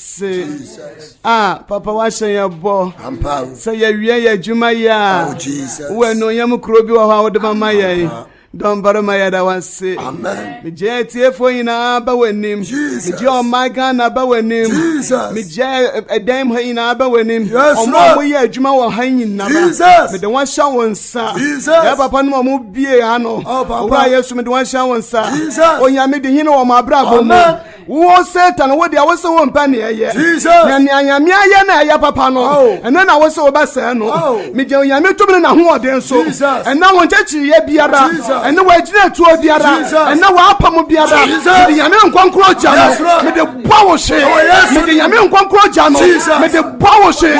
se a papa wahyɛ yɛ bɔ sɛ yɛwie yɛ adwuma yi a oh, wowɔ anuonyam kuro bi wɔ hɔ a wode mama yɛn dɔmbarima yɛda wase megye atiefoɔ nyinaa ba w'anim megye ɔma ghana ba w'anim megye ɛdan mu ha nyinaa ba w'anim ɔmo a moyɛ adwuma wɔ ha nyinaba mede wɔahyɛ wo nsa yɛ papa nom ɔmo bie ha no oh, wura yesu mede wɔahyɛ wo nsa onyame de hene wɔ mo abrabɔ mu Wowɔ Satan wo deɛ wose wo mpɛ neɛ yɛ na nea nyame ayɛ na ɛyɛ papa no ɛno na wose wobɛsɛɛ no megya onyame tumi no nahoɔden so ɛna wo nkyɛkyereyɛ biara ɛne wɔagyina atuo biara ɛna wɔapam biara mede nyame nkɔnkorɔ gya no mede bɔ wo hye mede nyame nkɔnkorɔ gya no mede bɔ wo hye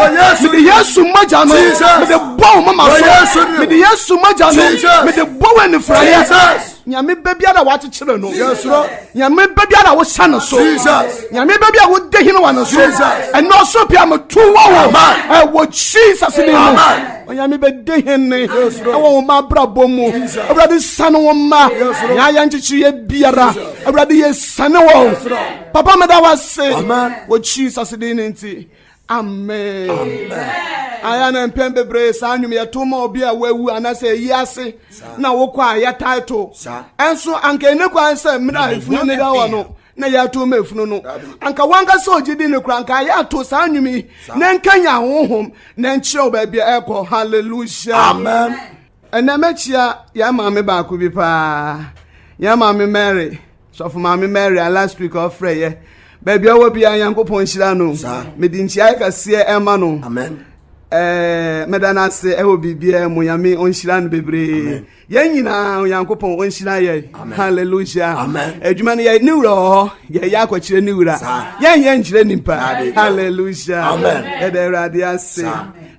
mede yesu mogya no mede bɔ wo mama so mede yesu mogya no mede bɔ wo anifraeɛ nyame bɛ biara a wɔakyekyere no nyame bɛ biara a wosa no so nyame bɛ bi a wode hene wa no so ɛnɛ ɔsoro pii a meto wɔ wo ɛwɔ jesus ne mu onyame bɛde hene ɛwɔ wo ma abrabɔ mu awurade sane wo ma na yɛ nkyekyereɛ biara awurade yɛsane wɔ papa meda wo ase wɔ jesus din ne nti amen aya na mpɛn bebree saa nnwom yɛto ma obi a wawu anaasɛ ɛyi ase na wokɔ a yɛtae to ɛnso anka ɛne kwan sɛ mmerɛ a ɛfunu ne da hɔ no na yɛato ma ɛfunu no anka wanka sɛ ɔgye di no kora anka yɛato saa nnwom yi na nkanya honhom na nkyerɛ wo baabi a ɛkɔ halleluya ɛnɛ mɛkyia yɛn maame baako bi paa yɛn maame mary Sɔfo maame Mary a last week ɔfrɛ yɛ baabi a ɔwɔ biara Nyankopɔn nhyira no mede nkyiae kɛseɛ ɛma no ɛɛ mɛda no ase ɛwɔ biribiara mu Nyame ɔnhyira no bebree yɛn nyinaa Onyankopɔn ɔnhyira yɛ hallelujah adwuma no yɛ ne wura wɔ hɔ yɛyɛ akɔkyerɛ ne wura yɛn yɛ nkyerɛ nipa hallelujah yɛda awurade ase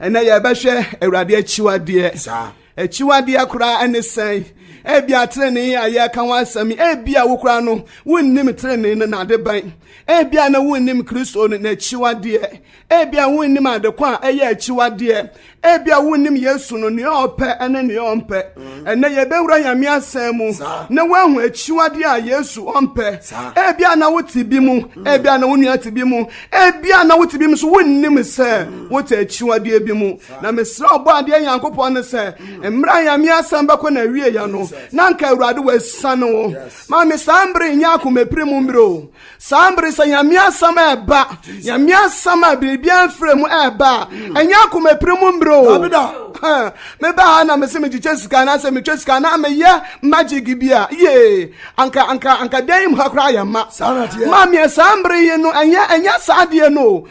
ɛnɛ yɛbɛhwɛ awurade akyiwadeɛ Akyiwadeɛ koraa ne sɛn? Ebia trenee a yɛreka ho asɛm yi, ebia wo koraa no wonnim trenee no n'ade bɛn. Ebia na wonnim Kristo no n'akyiwadeɛ. Ebia wonnim adeko a ɛyɛ akyiwadeɛ. Ebia wonnim Yesu no nea ɔpɛ ne nea ɔmpɛ. Ɛnɛ yɛbɛwura Nyame asɛm mu na woahu akyiwadeɛ a Yesu ɔmpɛ. Ebia na wote bi mu, ebia na wo nua te bi mu, ebia na wote bi mu so wonnim sɛ wote akyiwadeɛ bi mu. Na mesrɛ Ɔbɔadeɛ Nyankopɔn no sɛ, mmerɛ a Nyame asɛm bɛkɔ n'awieɛ no, na nka Awurade wasiane wo. Ma me saa mbere nyɛ akomapire mu mmerɛ o. Saa mbere sɛ Nyame asɛm ɛɛba, Nyame asɛm a biribiara mfiri mu ɛɛba a, ɛnyɛ akomapire mu mmerɛ o. meba ha na mese megyekyɛ sika anaasɛ metwa sika na meyɛ magic bi a yee anka anka anka dan mu ha koraa yɛ ma ma meɛ saa mbere yi no ɛnyɛ ɛnyɛ saa deɛ no o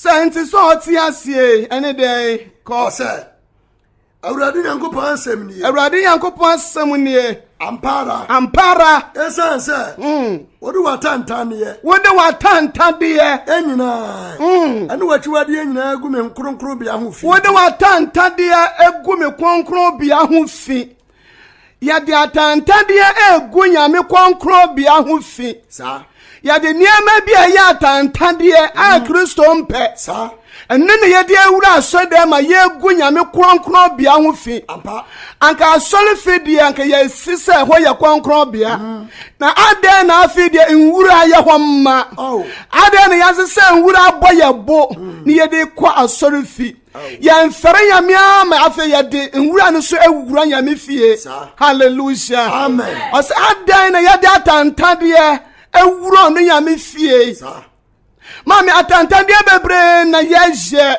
sɛ nte sɛ ɔte aseɛ ɛne dɛn kɔ sɛ awurade nyankopɔn asɛm nie awurade nyankopɔn asɛm nie ampara ampara ɛsiane sɛ mm. wode w'atantadeɛ wode w'atantadeɛ nyinaa mm. ɛne w'akyiwadeɛ nyinaa gu me kronkronbea ho fi wode w'atantadeɛ agu me kronkronbea ho fi Yɛde atantanneɛ regu nyame kɔnkrɔnbea ho fi. Yɛde nneɛma bi a ɛyɛ atantanneɛ a mm-hmm. Kristo mpɛ. Ɛno na yɛde awura asɔdɛm ma yɛregu nyame kɔnkrɔnbea ho fi. Anka asɔre fi deɛ anka yɛsi sɛ ɛhɔ yɛ kɔnkrɔnbea. Mm. Na adɛn na afei deɛ nwura yɛ hɔ mma. Oh. Adɛn na yɛase sɛ nwura abɔ yɛ bo mm. na yɛde kɔ asɔre fi. yɛmfɛre nyame ama afei yɛde nwura no so awura nyame fie halleluya ɔsɛ adɛn na yɛde atantadeɛ awura no nyame fie maame atantadeɛ bebree na yɛyɛ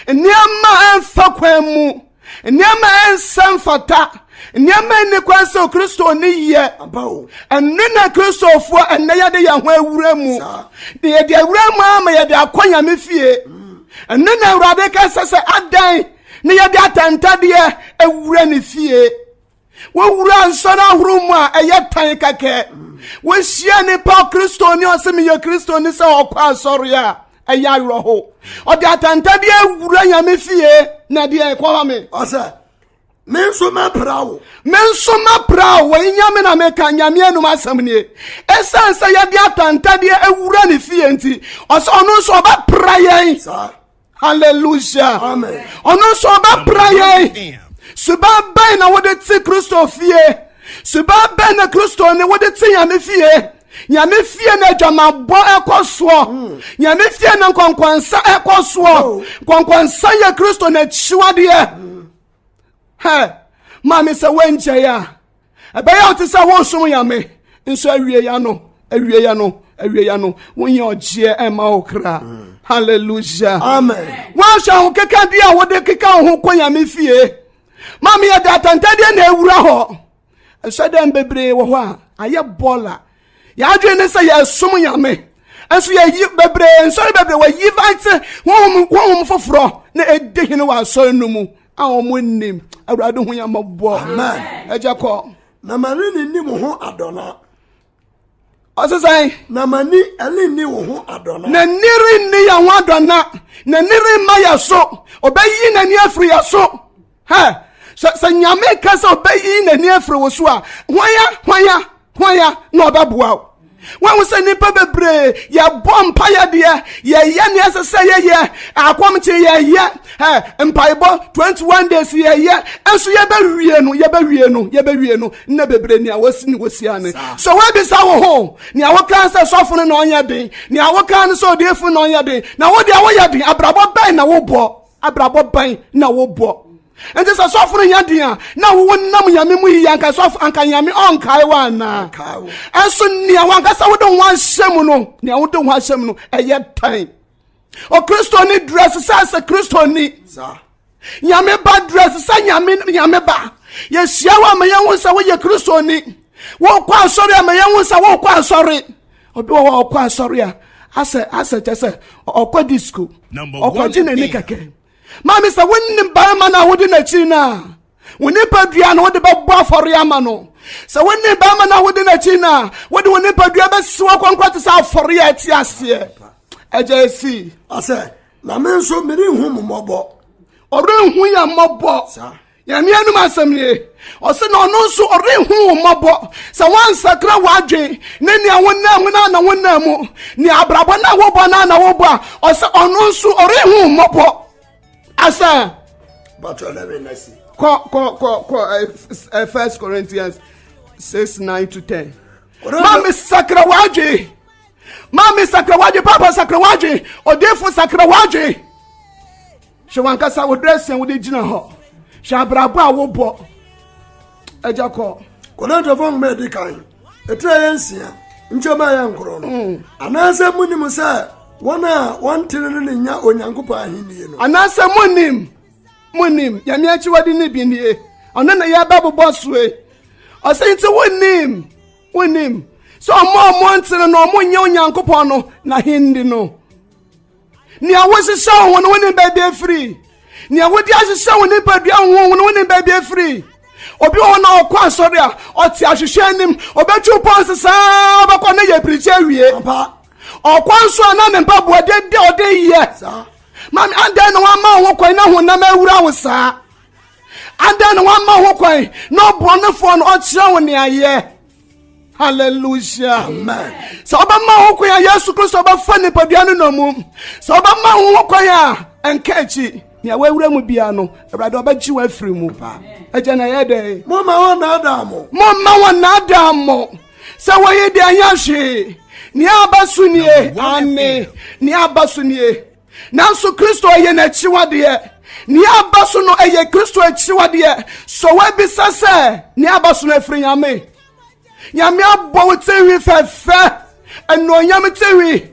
nneɛma ɛmfa kwan mu nneɛma ɛnsɛ mfata nneɛma nni kwan sɛ kristo ne yɛ ɛno na kristofoɔ ɛnɛ yɛde yɛn ho awura mu na yɛde awura mu ama yɛde akɔ nyame fie mm. Ɛno na Awurade ka sɛ sɛ adɛn na yɛde atɛntɛdeɛ awura ne fie. Wowura nsɔre ahorow mu a ɛyɛ tan kɛkɛ. Wohyia nipa kristoni ɔsɛ meyɛ kristoni sɛ ɔkɔ asɔre a ɛyɛ awerɛho. Ɔde atɛntɛdeɛ awura nyame fie na ɛdeɛ ɛkɔma me. Ɔsɛ me nso mɛpra wo me nso mɛpra wo wɔyi nyame na meka nyame anum asɛm nie ɛsiane sɛ yɛde atantadeɛ awura ne fie nti ɔsɛ ɔno nso ɔbɛpra yɛn hallelujah ɔno nso ɔbɛpra yɛn suban bɛn na wode te kristo fie suban bɛn na kristo ne wode te nyame fie nyame fie na adwamabɔ ɛkɔ soɔ hmm. nyame fie na nkɔnkɔnsa ɛkɔ soɔ oh. nkɔnkɔnsa yɛ kristo n'akyiwadeɛ hmm. hɛ maame sɛ woangyɛe a ɛbɛyɛ wo te sɛ wosom nyame nso awieya no awieya no awieya no wonyɛ ɔgyeɛ ɛma wo kra hmm. hallelujah amen woahwɛ ahokeka bi a wode keka wo ho kɔ nyame fie maame yɛde atantadeɛ na awura hɔ nsɔdan bebree wɔ hɔ a ayɛ bɔɔla yɛadwene ne sɛ yɛsom nyame nso yɛyi bebree nsɔre bebree wɔyi vante honhom honhom foforɔ na ɛdi hene wɔ asɔre no mu a wɔn nnim awurade ho yɛ mmɔbɔ ɛgya kɔ na mɛre ne nim ho adɔna ɔse sɛn na m'ani ɛrenni wo ho adɔna n'ani renni yɛn ho adɔna n'ani remma yɛ so ɔbɛyi n'ani afiri yɛ so hɛ sɛ sɛ nyame ka sɛ ɔbɛyi n'ani afiri wo so a hwan a hwan a hwan a na ɔbɛboa wo wɔn sɛ nnipa bebree yɛbɔ mpaeɛ deɛ yɛyɛ ne ɛsɛ sɛ yɛyɛ akɔmkye yɛyɛ Hey, mpaebɔ 21 days yɛyɛ nso yɛbɛwie no yɛbɛwie no yɛbɛwie no na bebree nea wɔsi ne wɔsia ne so woabisa wo ho nea wokaa sɛ sɔfo no na ɔnyɛ den nea wokaa no sɛ ɔdeefo na ɔnyɛ den na wodeɛ woyɛ den abrabɔ bɛn na wobɔ abrabɔ bɛn na wobɔ nti sɛ sɔfo no nyɛ den a na wowo nam nyame mu yiye anka sɔfo anka nyame ɔnkae wo anaa ɛnso nea wankasa wode ho ahyɛ mu no nea wode ho ahyɛ mu no ɛyɛ tan ɔkristoni dress sɛ sɛ kristoni nyame ba dress sɛ nyame nyame ba yɛhyia hɔ ama yɛhu sɛ woyɛ kristoni wokɔ asɔre ama yɛhu sɛ wokɔ asɔre obi wɔ hɔ ɔkɔ asɔre a asɛ asɛ kyɛ sɛ ɔkɔ disco ɔkɔgye n'ani kɛkɛ Maame, sɛ wonim barima no a wode no akyiri no a, wo nipadua no wode bɛbɔ afɔre ama no. Sɛ wonim barima no a wode no akyiri no a, wode wo nipadua bɛsi wakɔnkɔ te sɛ afɔre a ɛte aseɛ. Agya esi. Ɔsɛ, na me nso merenhu mo mmɔbɔ. Ɔrenhu yɛn mmɔbɔ. Saa. nyame anom asɛm nie ɔsɛ na ɔno nso ɔrenhunu wo mmɔbɔ sɛ woansakra w'adwen ne nea wonam mu no ana wonam mu ne abrabɔ no a wobɔ no ana wobɔ a ɔsɛ ɔno nso ɔrenhu wo mmɔbɔ asa kɔ kɔ kɔ kɔ eh, eh, first corinthians 6 9 to 10 ma me sakra w'adwen ma me sakra w'adwen papa sakra w'adwen ɔdefo sakra w'adwen Hwɛ wankasa wo dress a wode gyina hɔ. Hwɛ abrabɔ a wobɔ. Agya kɔ. Kɔnɛntɛfo nwoma edi kan. Etire yɛ nsia. Nkyɛnba yɛ nkoro no. Mm. Anaasɛ munim sɛ wɔn a wɔnte no ne nya Onyankopɔn ahenni no. Anaasɛ munim munim nyame akyiwade no bi nie ɔno na yɛbɛbobɔ soe ɔsɛ nti wonim wonim sɛ ɔmo ɔmo ntene no ɔmo nyɛ onyankopɔn no na hindi no nea wosesa wo ho no wonim baabi afiri nea wode ahyehyɛ wo nipadua ho wo no wonim baabi afiri obi wɔ hɔ na ɔkɔ asɔre a ɔte ahwehwɛ anim ɔbɛtwiw pɔnse saa ɔbɛkɔ ne yɛ pirikyi awie ɔkɔ nso a na ne mpaboa dede ɔde yɛ mami adɛn na wama wo ho kwan na honam awura wo saa adɛn na wama wo ho kwan na ɔborɔnefoɔ no ɔkyerɛ wo neayɛ hallelujah amen sɛ wobɛma ho kwan a yesu kristo bɛfa nipadua no nɔ mu sɛ wobɛma ho kwan a ɛnka akyi nea wawura mu bia no awurade ɔbɛgye wo afiri mu paa agya na ɛyɛ dɛn momma wɔnnaadaa mo momma wɔnnaadaa mo sɛ wɔyi deɛ ɛnyɛ hwee nea aba so nie ane nea aba so nie Nanso Kristo yɛ n'akyiwadeɛ. Nea aba so no yɛ Kristo akyiwadeɛ. So woabisa sɛ nea aba so no afiri Nyame? Nyame abɔ wo tinwi fɛfɛ, anuonyam tinwi.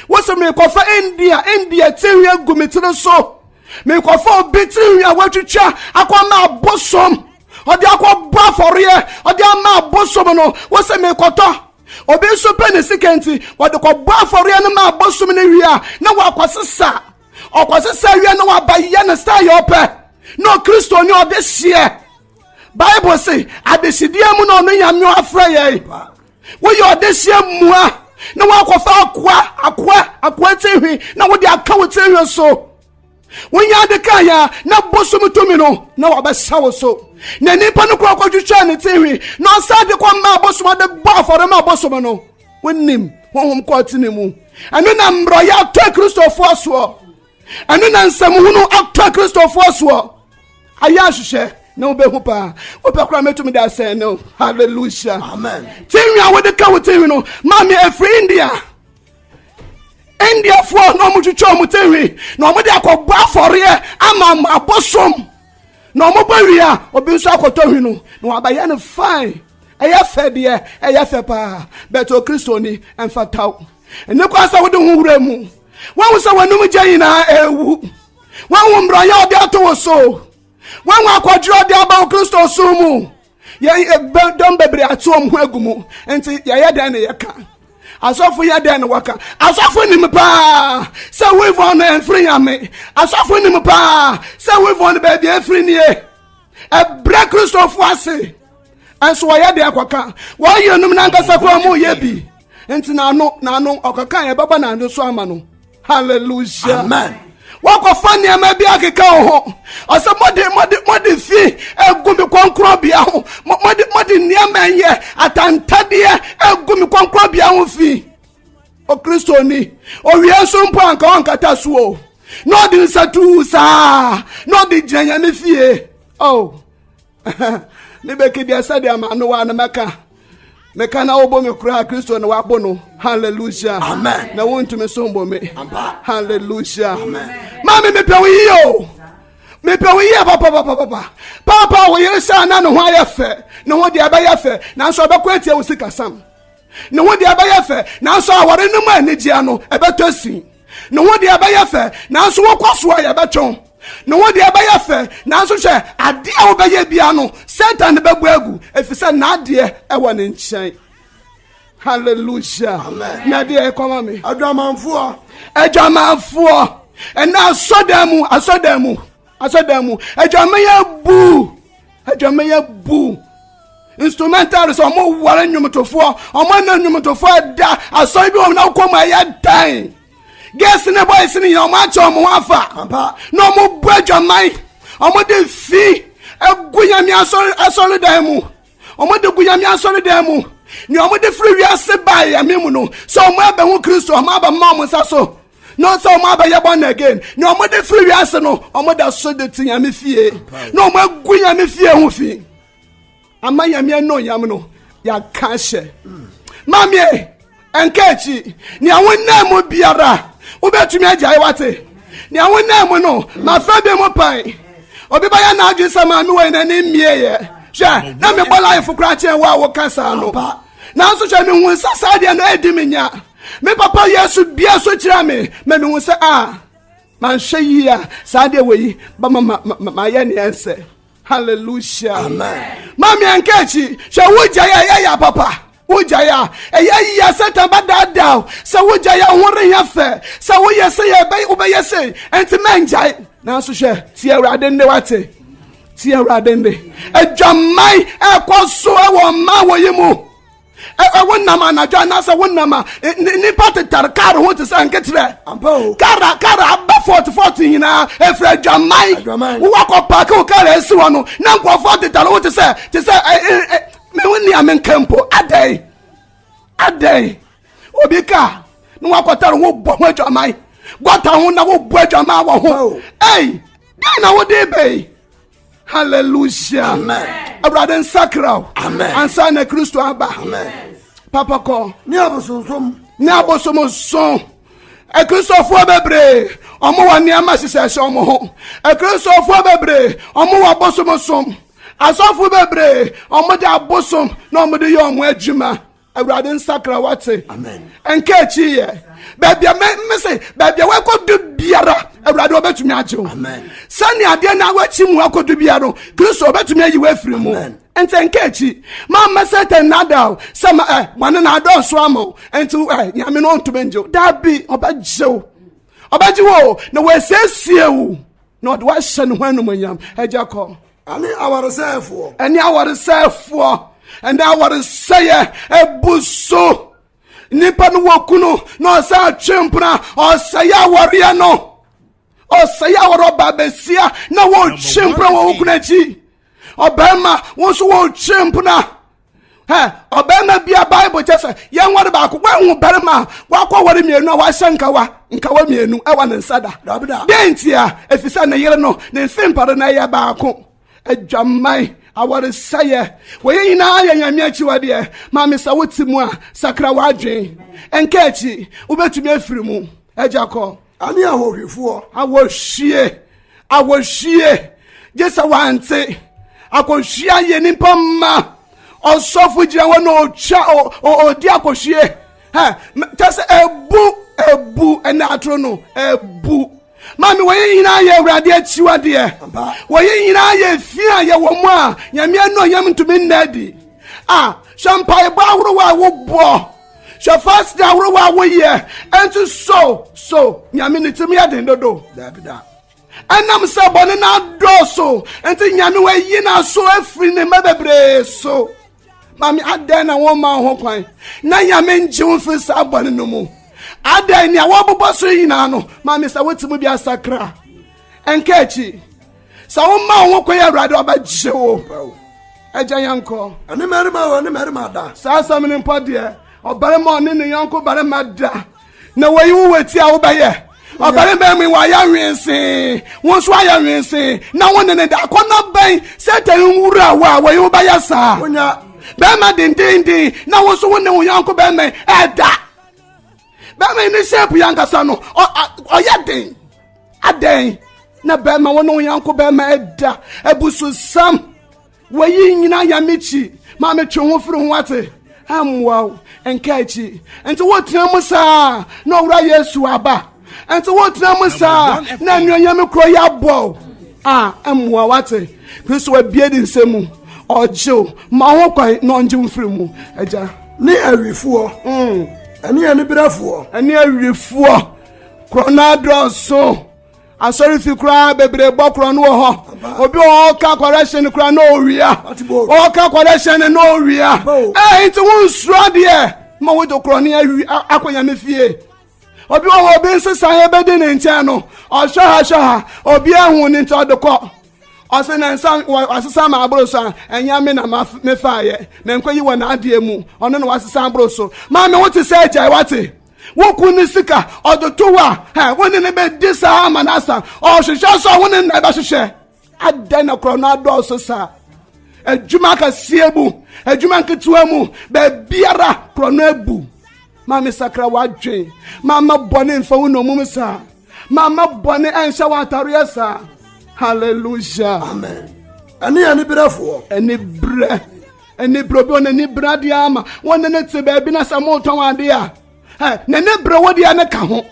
Wose mekɔfa India, India tinwi agu me tiri so. Mekɔfa obi tinwi a watwitwa akɔma abosom. Ɔde akɔbɔ afɔreɛ, ɔde ama abosom no, wose mekɔtɔ. obi nso pɛ ne sika nti wɔde kɔbɔ afɔreɛ no ma abosom no wie a na wakɔsesa ɔkɔsesa wie na waba yɛ ne star yɛ ɔpɛ na ɔkristo ne ɔde hyeɛ bible se adehyedeɛ mu na ɔno nyame afrɛ yɛn woyɛ ɔde hyeɛ mua na woakɔfa akoa akoa akoa tirihwi na wode aka wo tirihwi so Wonyɛ ade kaa yɛ a, na bosom tumi no na wɔbɛhyɛ wo so. Na nipa no kɔ kɔtwitwaa ne tinhwi, na ɔsan de kɔ maa bosom ade bɔ afɔre maa bosom no. Wonim honhom kɔ atene mu. Ɛno na mmerɛyɛ atɔ akristofoɔ soɔ. Ɛno na nsɛmhunu atɔ akristofoɔ soɔ. Ayɛ ahwehwɛ na wobɛhu paa. Wopɛ koraa mɛtumi de asɛn no. Hallelujah. Amen. Tinhwi a wode ka wo tinhwi no, maame ɛfiri India. indiafoɔ na wɔtwitwa wɔn tɛhwi na wɔde akɔbɔ afɔreɛ ama abosom na wɔbɔ wie a obi nso akɔtɔ hwi no na wɔabɛyɛ no fine ɛyɛ fɛ deɛ ɛyɛ fɛ paa bɛtɛ okristoni mfataw ɛne kwan sɛ wode ho wura mu wɔn sɛ wɔn anum gya nyinaa ɛrewu wɔn mmerɛyɛ ɔde ato wo so wɔn akɔdwerɛ ɔde aba okristo so mu. Yɛn dɔm bebree ate wɔn ho agu mu, nti yɛyɛ dɛn na yɛka? asɔfo yɛ dɛn na wɔka? asɔfo nim paa sɛ wivɔn no mfiri nyame, asɔfo nim paa sɛ wivɔn no baabi afiri nie, ɛbrɛ kristofo ase, ɛnso wɔyɛ deɛ kɔka wɔyɛ nom no ankasa koraa mu yɛ bi. nti n'ano n'ano ɔkeka yɛ bɛba n'ano so ama no hallelujah amen wakɔfa nneɛma bi akeka wo ho ɔsɛ mode mode mode fi egu me kɔnkorɔbea ho mode mode nneɛma yɛ atantadeɛ egu me kɔnkorɔbea ho fi okristoni owie nso mpo anka ɔnkata so o na ɔde nsa tuu saa na ɔde gyina nyame fie oh ne bɛka bia sɛdeɛ ama no wa no mɛka meka na wobo me koraa kristo na wabo no halleluya na wontumi so mbɔ me halleluya ma me mepɛ wo yie o mepɛ wo yie papapapapa paapa wo yere sɛ na ne ho ayɛ fɛ ne ho deɛ ɛbɛyɛ fɛ nanso ɛbɛkɔ atia wo sikasam ne ho deɛ ɛbɛyɛ fɛ nanso awɔre no mu anigyeɛ no ɛbɛtɔ sin ne ho deɛ ɛbɛyɛ fɛ nanso wokɔ so a yɛbɛtwe wo ne ho deɛ ɛbɛyɛ fɛ nanso hwɛ adeɛ a wobɛyɛ bia no satan ne bɛbɔ agu ɛfiri sɛ n'adeɛ ɛwɔ ne nkyɛn hallelujah na deɛ ɛkɔma me adwamanfoɔ adwamanfoɔ ɛnna asɔdan mu asɔdan mu asɔdan mu adwamɛyɛ buu adwamɛyɛ buu instrumental sɛ ɔmo ware nnwomtofoɔ ɔmo ɛna nnwomtofoɔ ɛda asɔre bi wɔn na ɔkɔ mu ɛyɛ dan girls ne boys ne yɛn ɔmo akyɛ ɔmo ho afa na ɔmo bu adwaman ɔmo de fi egu nyame asɔre asɔre dan mu ɔmo de gu nyame asɔre dan mu nea ɔmo de firi wiase baa yɛn mu no sɛ ɔmo ɛbɛn ho kristu ɔmo aba mma ɔmo nsa so. na ɔsɛ wɔn abɛyɛ born again na wɔn de firi wiase no wɔn da so de ti nyame fie na wɔn agu nyame fie ho fi ama nyame ano yam no yɛaka hyɛ maame ɛnka akyi nea wonam mu biara wobɛtumi agyae wate nea wonam mu no mafa bi mu pan obi bɛyɛ n'adwene sɛ maame wɔ n'ani mmieeɛ hwɛ na mebɔ life koraa kyɛn wo a woka saa no nanso hwɛ mehu sɛ saa deɛ no ɛdi me nya me papa yesu bia so kyerɛ me ma mehu sɛ a ah, manhwɛ yie a saa deɛ wɔ yi bɛma mayɛ neɛ nsɛ halleluya ma meɛnka akyi hwɛ wogyaeɛ a ɛyɛ papa wogyaeɛ a ɛyɛ yia satan bɛdaadaa o sɛ wogyaeɛ ho reyɛ fɛ sɛ woyɛ sɛ wobɛyɛ sei ɛnti mɛngyae nanso hwɛ tie awurade nne wate tie awurade nne adwaman ɛkɔ so wɔ mma wɔ yi mu wonam anadwo anaasɛ wonam a nnipa tetare kar ho te sɛ nketeɛ kara kara aba fɔt fɔt nyinaa ɛfiri adwaman wowakɔ paake wo kar asi hɔ no na nkurɔfoɔ tetare ho te sɛ te sɛ mewo nea menka mpo adɛn adɛn obi ka na wakɔtare ho bɔ ho adwaman gɔta ho na wobɔ adwaman wɔ ho ei dɛn na wode bɛi hallelujah amen awurade nsakra o amen ansa na kristo aba amen papa kɔ ne abosonsom ne abosonsom akristofoɔ bebree ɔmo wɔ nneɛma hyehyɛ hyɛ ɔmo ho akristofoɔ bebree ɔmo wɔ abosonsom asɔfo bebree ɔmo de abosom na ɔmo de yɛ ɔmo adwuma awurade nsakra wate nka akyi yɛ baabi a me se baabi a wakɔdu biara awurade wɔbɛtumi agye wo sɛnea adeɛ na wakyi mu akɔdu biara no kristo wɔbɛtumi ayi wo afiri mu nti nka akyi mamma satan nada o sɛ ma ɛ bɔne na adɔɔso ama wo nti ɛ nyame no ɔntumi ngye wo daa bi ɔbɛgye wo ɔbɛgye wo na wɔasiesie wo na ɔde woahyɛ ne ho anumonyam agya kɔ Ɛne awaresɛefoɔ. Ɛne awaresɛefoɔ. Ɛne awaresɛeɛ ɛbu so. Nipa no wɔ kunu na ɔsɛ atwe mpena ɔsɛe awareɛ no. Ɔsɛe awareɛ ɔbaa bɛsia na wɔtwe mpena wɔ wo kunu akyi. Ɔbɛrima wo nso wɔtwe mpena ɔbarima bi a bible kyɛ sɛ yɛnware baako woahu barima a wakɔ ware mmienu a wahyɛ nkawa nkawa mmienu ɛwɔ ne nsa da dɛn ntia ɛfiri sɛ ne yere no ne mfe mpare no ɛyɛ baako adwaman awaresɛeɛ wɔyɛ nyinaa yɛ nyame akyiwadeɛ ma me sɛ wote mu a sakra w'adwen ɛnka akyi wobɛtumi afiri mu agya kɔ Ani ahohwifoɔ. Ahohwie, ahohwie, gye sɛ wante. Akɔhwie ayɛ nipa mma. Ɔsɔfo gyina hɔ na ɔtwa ɔdi akɔhwie. Kyɛ sɛ ebu ebu ɛna atoro no ebu. Maame wɔyɛ nyinaa yɛ awurade akyiwadeɛ. Wɔyɛ nyinaa yɛ fi a yɛ wɔn a nyame anɔ yam ntumi nna adi. A sɛ mpaebɔ ahorow a wobɔ. Hwɛ fast ahorow a woyɛ nso so so nyame ne tumi yɛ den dodo daabi da ɛnam sɛ bɔne no adɔɔso nti nyame wayi n'aso afiri ne mma bebree so maame adɛn na wɔma ho kwan na nyame ngye wo mfiri saa bɔne no mu adɛn nea wɔbobɔ so nyinaa no maame sɛ wotumi bi asakra ɛnka akyi sɛ woma wo ho kɔ yɛ awurade ɔbɛgye wo agya yɛnkɔ ɛne mmarima a ɔne mmarima da saa asɛm no mpo deɛ ɔbarima ɔne ne yɔnko barima da na wɔyi wo wɔti a wobɛyɛ ɔbarima mu wɔayɛ nwensee wo nso ayɛ nwensee na wo ne ne da akɔnɔ bɛn satan nwura wo a wɔyi wo bɛyɛ saa bɛrima dendenden na wo nso wo ne wo yɔnko bɛrima ɛda bɛrima yi ne shape yi ankasa no ɔyɛ den adɛn na bɛrima wɔn ho yanko bɛrima ɛda abususam wɔyi nyina yamikyi maa metwe ho firi ho ate ɛmmoa wo nka akyi nti wotena mu saa na ɔwura yesu aba nti wotena mu saa na anuonyam kuro yɛ abɔ a ɛmmoa wate kristo abie ne nsɛm mu ɔgyew ma ho kwan na ɔngye wo firi mu agya ne awifoɔ mm. ɛne aniberɛfoɔ ɛne awifoɔ korɔ no adɔɔso asɔrefi koraa bebree bɔ korɔ no wɔ hɔ obi wɔ hɔ ɔka kɔrɛhyɛ no koraa na ɔwia ɔka kɔrɛhyɛ no na ɔwia ɛɛ nti wonsuro adeɛ ma wode korɔ no awi akɔ nyame fie obi wɔ hɔ obi nsesan yɛ bɛdi ne nkyɛn no ɔhwɛ ha hwɛ ha obi ahu ne nti ɔde kɔ ɔsɛ ne nsa wasesa ma aboro so a ɛnyɛ me na mefa yɛ me nkɔ yi wɔ n'adeɛ mu ɔno na wasesa aboro so maame wote sɛ agyae wate woku ne sika ɔde to hɔ a ɛ wo ne ne bɛdi saa ama no asa ɔhwehwɛ so a wo ne nna ɛbɛhwehwɛ adɛn na korɔ no adɔɔso saa adwuma akɛseɛ mu adwuma nketewa mu baabiara korɔ no abu maame sakra w'adwen maama bɔne mfa wo nɔmum saa maama bɔne ɛnhyɛ wo atareɛ saa hallelujah amen ɛne aniberɛfoɔ aniberɛ aniberɛ obi ɔne aniberɛ adeɛ ama wɔne ne te baabi na sɛ motɔn adeɛ a na ne berɛ wo deɛ ne ka ho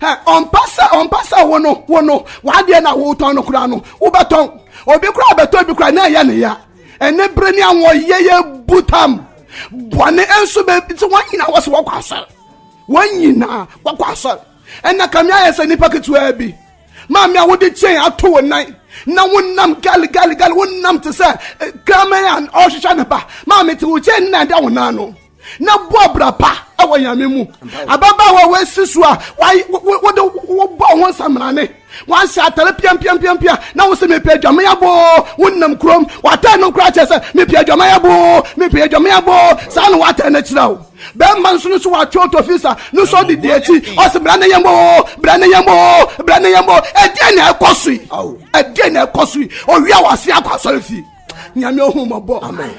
ɔmpɛ sɛ ɔmpɛ sɛ wo no wo no w'adeɛ na wotɔn no koraa no wobɛtɔn obi koraa bɛtɔ bi koraa na ɛyɛ ne ya ɛne bere ne awɔ yɛyɛ butam bɔne nso bɛbi sɛ wɔn nyinaa wɔ sɛ wɔkɔ asɔre wɔn nyinaa wɔkɔ asɔre ɛna kame ayɛ sɛ nipa ketewa bi maame a wode kyɛn ato wo nan na wonam gali gali gali wonam te sɛ kraman a ɔrehwehwɛ ne ba maame te wo kyɛn nna ɛda wo nan no na bɔ abira pa wɔ nyame mu ababaawa wɔasi so a wode wobɔ ho nsamrane wahyɛ atare piampiampiampia na wo sɛ mepɛ adwame aboo wonam kurom watɛn no koraa kyerɛ sɛ mepɛ adwame aboo mepɛ adwame aboo saa na watɛn no akyerɛ wo bɛrima nso no so watwe ɔtɔfisa no so ɔde di akyi ɔsɛ bra ne yɛn boo bra ne yɛn boo bra ne yɛn boo ɛdeɛ na ɛkɔ so yi ɛdeɛ na ɛkɔ so yi owia wɔ ase akɔ asɔre fie nyame ohu mmɔbɔ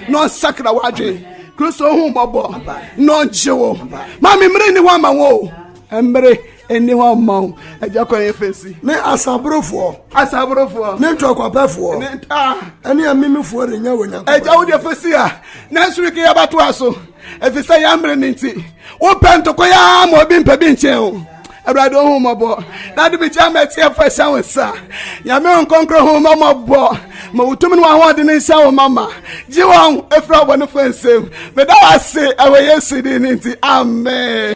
na ɔnsakra w'adwene kristo ohu mmɔbɔ na ɔngye wo ma me mmere nni hɔ ama wo mmere ɛni hɔ mma wo agya kwan yɛ fɛsi. ne asaborofoɔ. asaborofoɔ. ne ntɔkwapɛfoɔ. ne ntaa. ɛne amimifoɔ de nya wɔ nyankopɔn. agya wo deɛ fɛsi a nanso reke yɛ bɛto a so ɛfiri sɛ yɛn mmere ne nti wopɛ ntoko yɛ ama obi mpɛ bi nkyɛn o awurade ɔhomɔbɔ na de bɛgya ma ɛteɛ fa hyɛ wo nsa nyame wo nkɔnkrɔ homɔmɔbɔ ma wotum ne wahoɔde ne nhyɛ wo mama gye wɔn ɛfiri abɔnefoɔ nsɛm meda wo ase ɛwɔ yesu din no nti amen